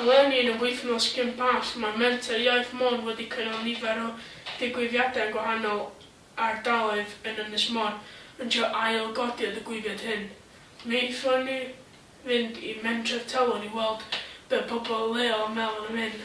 Eleni, yn y wythnos cyn Pasg, mae Menter Iaith Môn wedi cynnal nifer o ddigwyddiadau yn gwahanol ardaloedd yn Ynys Môn, yn trio ail-godi y ddigwyddiad hyn. Mi aethon ni fynd i Mentref Telwyn i weld be pobl leol yn meddwl am hyn.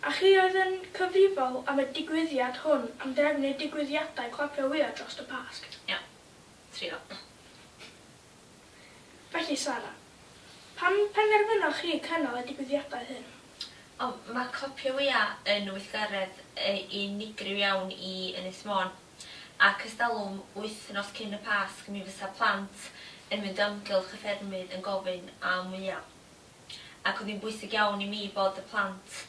A chi oedd yn cyfrifol am y digwyddiad hwn am drefnu y digwyddiadau clapio wya drost y Pasg? Iawn. Trio. Felly, Sara, pam penderfynoch chi cynnal y digwyddiadau hyn? O, mae clapio wya yn weithgaredd unigryw iawn i Ynys Môn, ac ers talwm, wythnos cyn y Pasg, mi fysa plant yn mynd o amgylch y ffermydd yn gofyn am wya. ac oedd hi'n bwysig iawn i mi bod y plant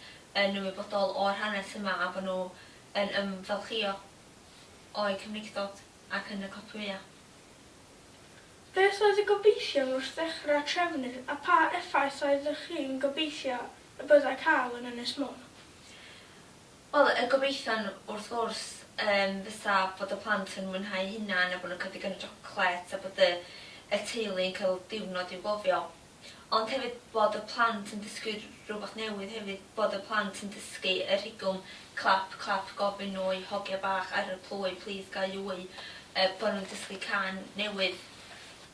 yn ymwybodol o'r hanes yma a bod nhw yn ymfalchïo o'u Cymreictod ac yn y copïau. Beth oedd y gobeithion wrth ddechrau trefnu a pha effaith oeddech chi'n gobeithio y byddai cael yn Ynys Môn? Wel, y gobeithion wrth gwrs yym fysa bod y plant yn mwynhau eu hunain a bod nhw'n cael digon o siocled a bod y y teulu yn cael diwrnod i'w gofio. Ond hefyd bod y plant yn dysgu rhywbeth newydd hefyd, bod y plant yn dysgu y rhigwm clap clap gofyn oi hogia bach ar y plwy plîs ga i wy, yy bod nhw'n dysgu cân newydd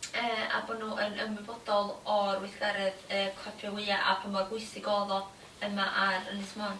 yy a bod nhw yn ymwybodol o'r weithgaredd yy clapio wya a pa mor bwysig o'dd o yma ar Ynys Môn.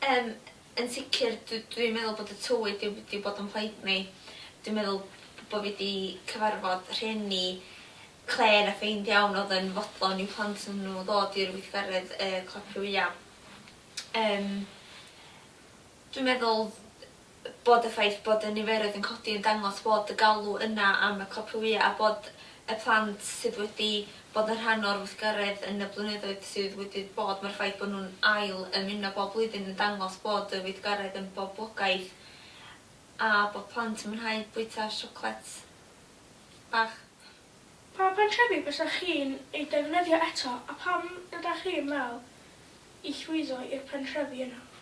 Yym yn sicr dw- dwi'n meddwl bod y tywydd 'di w- 'di bod yn plaid mi. Dwi'n meddwl b- bo' fi 'di cyfarfod rhieni clên a ffeind iawn o'dd yn fodlon i'w plant n- nw ddod i'r weithgaredd yy clapio wya. Yym dwi'n meddwl bod y ffaith bod y niferoedd yn codi yn dangos bod y galw yna am y copïau a bod y plant sydd wedi bod yn rhan o'r weithgaredd yn y blynyddoedd sydd wedi bod, mae'r ffaith bod nhw'n ail ymuno bob blwyddyn yn dangos bod y weithgaredd yn boblogaidd a bod plant yn mwynhau bwyta siocled bach. Pa gartrefi fysa chi'n eu defnyddio eto a pam ydach chi'n meddwl i llwyddo i'r pentrefi yna?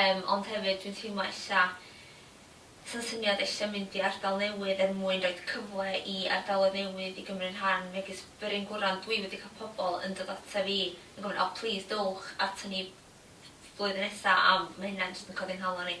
Yym ond hefyd dwi'n teimlo ella sa'n syniad ella mynd i ardal newydd er mwyn roid cyfle i ardaloedd newydd i gymryd rhan megis Bryn Gwran dwi wedi cael pobl yn dod ata fi yn gofyn o plîs dowch ata ni flwyddyn nesa a ma' hynna jyst yn codi nghalon i.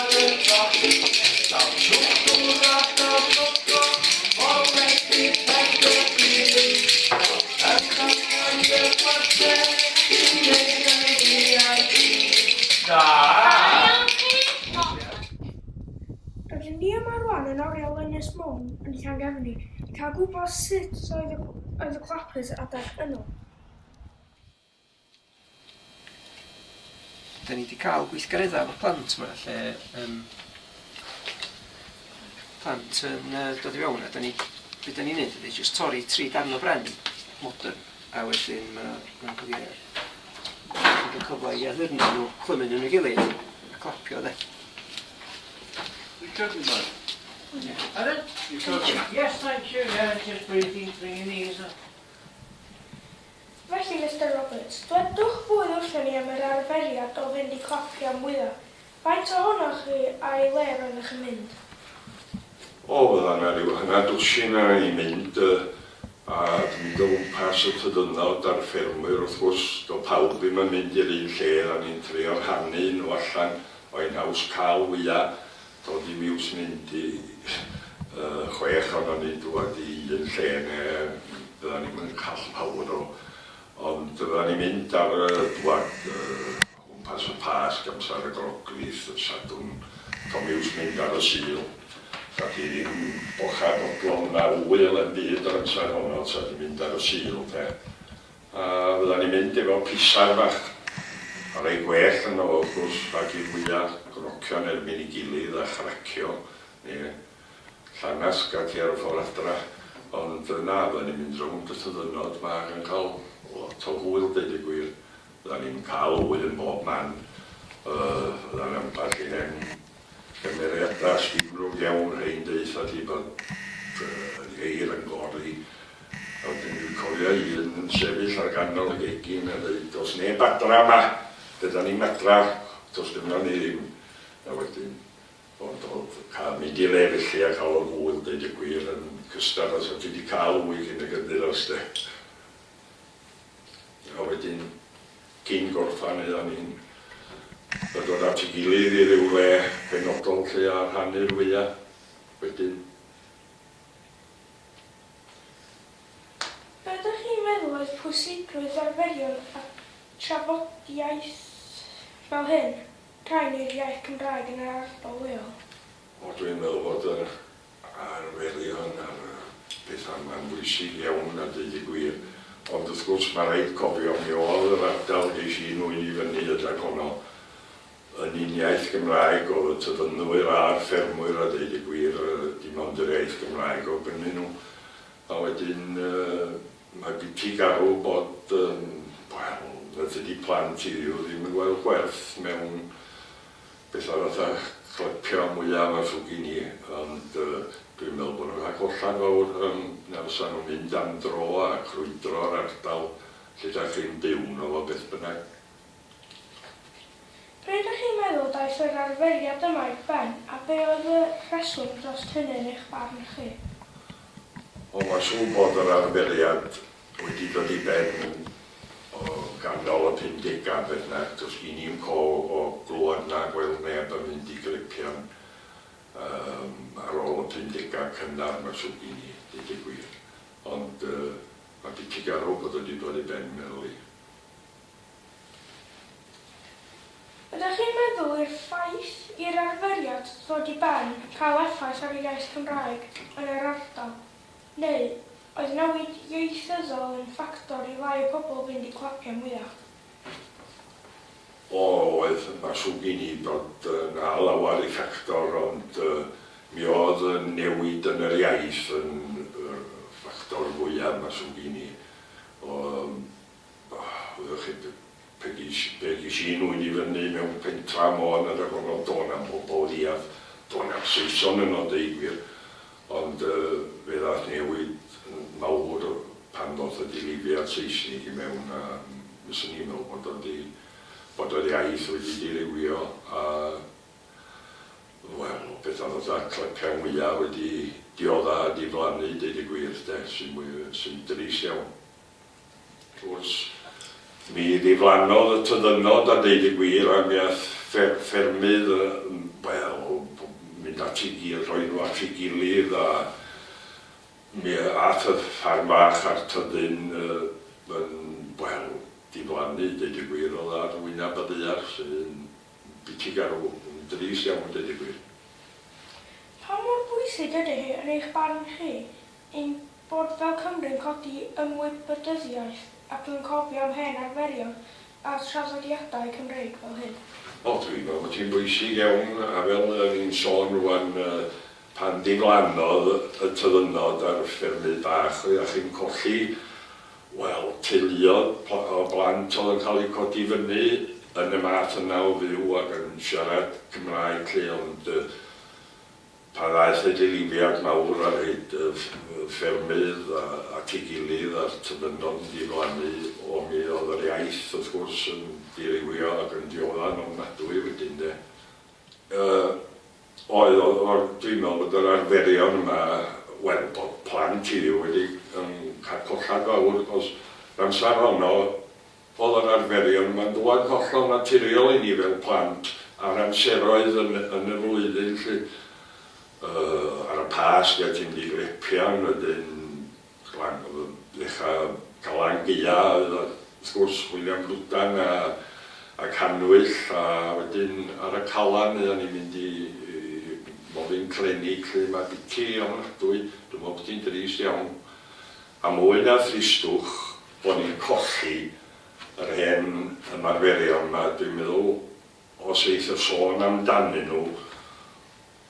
Rydyn ni yma rŵan yn oriel Ynys Môn yn Llangefni i cael gwybod sut oedd y clapers adeg yno. Dan ni 'di cael gweithgareddau efo plant 'ma lle yym plant yn yy dod i fewn a dan ni... be dan ni'n wneud ydy jyst torri tri darn o bren modern a wedyn ma' 'na ma' 'na cyfle bod yn cyfle i addurno nhw clymu nhw yn ei gilydd a clapio de. Recording mode. Ie. Pardon? Recording. Yes thank you yeah just breathing through your nose. Felly, Mister Roberts, dwedwch ddwy wrthon ni am yr arferiad o fynd i coffi am fwya'. Faint ohonoch chi a'i le roeddech yn mynd? O, fydda' 'na ryw hanner dwsin a ni'n mynd, yy, a di mynd o gwmpas y tŷ dynod a'r ffermwyr, wrth gwrs. Do' pawb ddim yn mynd i'r un lle, a ni'n trio rhannu nhw allan, o ein haws ca'l fwya'. Dod i miws mynd i chwech ohonon ni dwad i un lle ne fyddan ni'm yn call pawb nôl ond fyddan ni'n mynd ar y dwad o gwmpas y Pasg amsar y Groglith y Sadwrn to miws mynd ar y Sul ta di ddim bochad odlon na ŵyl em byd yr amsar honno ta di mynd ar y Sul de A fyddan ni'n mynd efo pisaer bach. A rei gwell ynddo fo, wrth gwrs, rhag i'r wya grocio yn erbyn ei gilydd a chracio, neu llangasg ac e ar y ffordd adra. Ond na, fyddan ni'n mynd rownd y tyddynod 'ma ac yn cael lot o hwyl, deud y gwir. Fyddan ni'n cael hwyl yn bob man. Yy, fyddan ambell i hen Cymeriadau llifnod iawn ein deutha ti bod y geir yn gori a wedyn dwi'n cofio un yn sefyll ar ganol y gegin a deud does neb adra yma, be da ni'n adra, does gynno ni ddim a wedyn ond oedd cael mynd i le felly a cael y ŵyn deud y gwir yn cystal os oedd ti di cael ŵyn cyn y gynddyros de. A wedyn Cyn gorffen aethon ni'n dod at ei gilydd i ryw le penodol lle a rhannu'r wya wedyn. Be dych chi'n meddwl oedd pwysigrwydd arferion a trafodiaeth fel hyn, rhai neu'r iaith Gymraeg yn yr ardal leol? O dwi'n meddwl bod yr a'r welian ar bethau, mae'n bwysig iawn a deud y gwir, ond wrth gwrs mae rhaid cofio mi oedd yr ardal ges i'n nwy'n i fyny ydag honno yn un iaith Gymraeg oedd y tyddynwyr a'r ffermwyr a deud y gwir dim ond yr iaith Gymraeg oedd gynnyn nhw a wedyn mae gen ti garw bod yym wel na dydi plant i Dduw ddim yn gweld gwerth mewn Beth arall a chlepia mwyaf a thwg i ni ond dwi'n meddwl bod nhw'n rhag hollad fawr yym na fysa nhw'n mynd am dro a crwydro'r ardal lle dach chi'n byw ynddo fo beth bynnag. Be dych chi'n meddwl daeth yr arferiad yma i'ch ben a be oedd y rheswm drost hynny yn eich barn chi? O mae'n siŵr bod yr arferiad Wedi dod i ben o ganol y pumdegau, beth bynnag, does gen i'm call o glywed na gweld neb yn mynd i gleipian ar ôl y pumdegau cynnar 'ma, siwr gen i, deud y gwir. Ond mae biti garw bod o wedi dod i ben, meddwl i. Ydych chi'n meddwl i'r ffaith i'r arferiad ddod i ben cael effaith ar y iaith Cymraeg yn yr ardal? Neu oedd newid ieithyddol yn ffactor i lai y pobl fynd i clapiau mwyach? O, oedd. Mae'n siwr gen i bod 'na lawer i ffactor ond mi oedd y newid yn yr iaith yn y ffactor fwya, mae'n siwr gen i. O, Oeddech chi'n pegi pegi llun ŵyn i fyny mewn pentra Môn yr Afon do na'm pobol leiaf do na'm Saeson yno deud gwir ond yy fe ddath newid mawr pan ddoth y dirywiad Seisnig i mewn a fyswn i'n meddwl bod o 'di bod yr iaith wedi dirywio a wel petha fatha clyca mwya wedi diodda a diflannu deud y gwir de sy'n mwy sy'n drist iawn. Wrth gwrs, mi ddiflannodd y tyddynnod a deud y gwir ac mi aeth ffermydd, wel, mynd at ei gilydd, rhoi nhw at ei gilydd a mi aeth y ffarm fach a'r tyddyn yn, wel, diflannu, deud y gwir, oedd ar wyneb y ddaear, sy'n biti garw, yn drist iawn, deud y gwir. Pa mor bwysig ydy hi yn eich barn chi Ein bod fel Cymry'n codi ymwybydyddiaeth ac yn cofio am hen arferion a thraddodiadau Cymreig fel hyn. O, dwi'n meddwl bod hi'n bwysig iawn, a fel o'n i'n sôn rŵan, pan ddiflannodd y tyddynod ar ffermydd bach, oeddach chi'n colli, wel, teuluoedd o blant oedd yn cael eu codi fyny yn y math yna o fyw ac yn siarad Cymraeg 'lly, ond Pan ddaeth y dilyfiant mawr ar hyd y ffermydd at ei gilydd a'r tybydno'n diflannu o mi oedd yr iaith wrth gwrs yn dirywio ac yn diodda'n ofnadwy wedyn de. Yy oedd oedd oedd dwi'n meddwl bod yr arferion yma wel bod plant i fi wedi yn cael collad fawr achos yr amser honno Oedd o'n arferion, mae'n dŵad hollol naturiol i ni fel plant ar amseroedd yn yn y flwyddyn 'lly. Yy ar y Pasg a ti'n mynd i Grepian wedyn Glan- yy ddechra Glan Gaea oedd o wrth gwrs William Bludan a a Cannwyll a wedyn ar y Calan oeddan ni'n mynd i i Molyn Clenig 'lly. Mae biti ofnadwy, dwi'n meddwl bod hi'n drist iawn. A mwy na thristwch, bo ni'n colli yr hen ymarferion 'ma, dwi'n meddwl os eith y sôn amdanyn nhw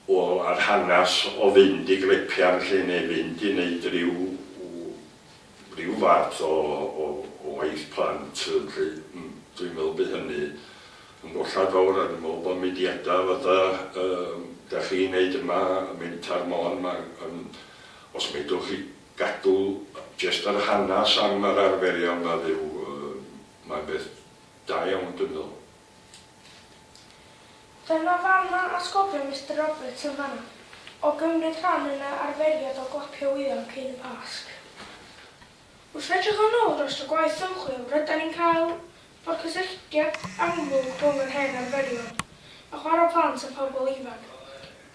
o yr hanas o fynd i glepian 'lly neu fynd i neud ryw ryw fath o o o waith plant 'lly, dwi'n meddwl by hynny yn gollad fawr a dwi'n meddwl bo mudiada fatha yy 'da chi'n neud yma, Mentar Môn 'ma yn os medrwch chi gadw jest yr hanas am yr arferion nad yw mae'n beth da iawn dwi'n meddwl. Dyna fan ma'n atgofio Mister Roberts yn fanna, o gymryd rhan yn yr arferiad o glapio wyddon cyn y Pasg. Wrth edrych yn ôl dros y gwaith ymchwil rydan ni'n cael Mae'r cysylltiad amlwg rhwng yr hen arferion a chwarae plant a phobl ifanc,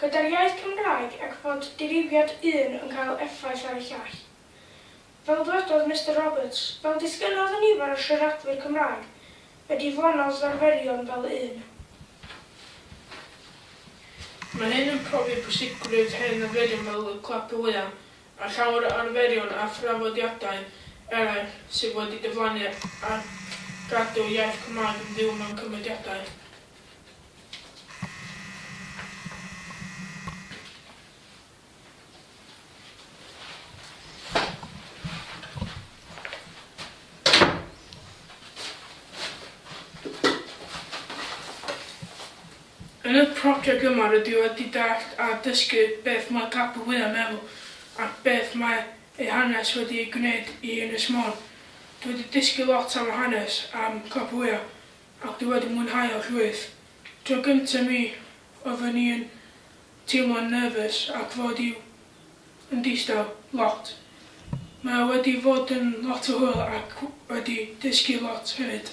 gyda'r iaith Cymraeg ac fod dirywiad un yn cael effaith ar y llall. Fel dwedodd Mister Roberts, fel disgynnodd y nifer o siaradwyr Cymraeg y diflannodd arferion fel un. Mae hyn yn profi pwysigrwydd hen arferion fel y clap y wyau, a llawer o arferion a thraddodiadau eraill sydd wedi diflannu ar gadw iaith Cymraeg yn fyw mewn cymediadau. Yn y project yma rydw i wedi dallt a dysgu beth mae Capel Wyl yn meddwl ac beth mae ei hanes wedi ei gwneud i Ynys Môn. Dwi wedi dysgu lot am y hanes am Capel Wyl ac dwi wedi mwynhau o llwyth. Tro gynta mi oeddwn i yn teimlo'n nervous ac fod i'w yn distaw lot. Mae o wedi fod yn lot o hwyl ac wedi dysgu lot hefyd.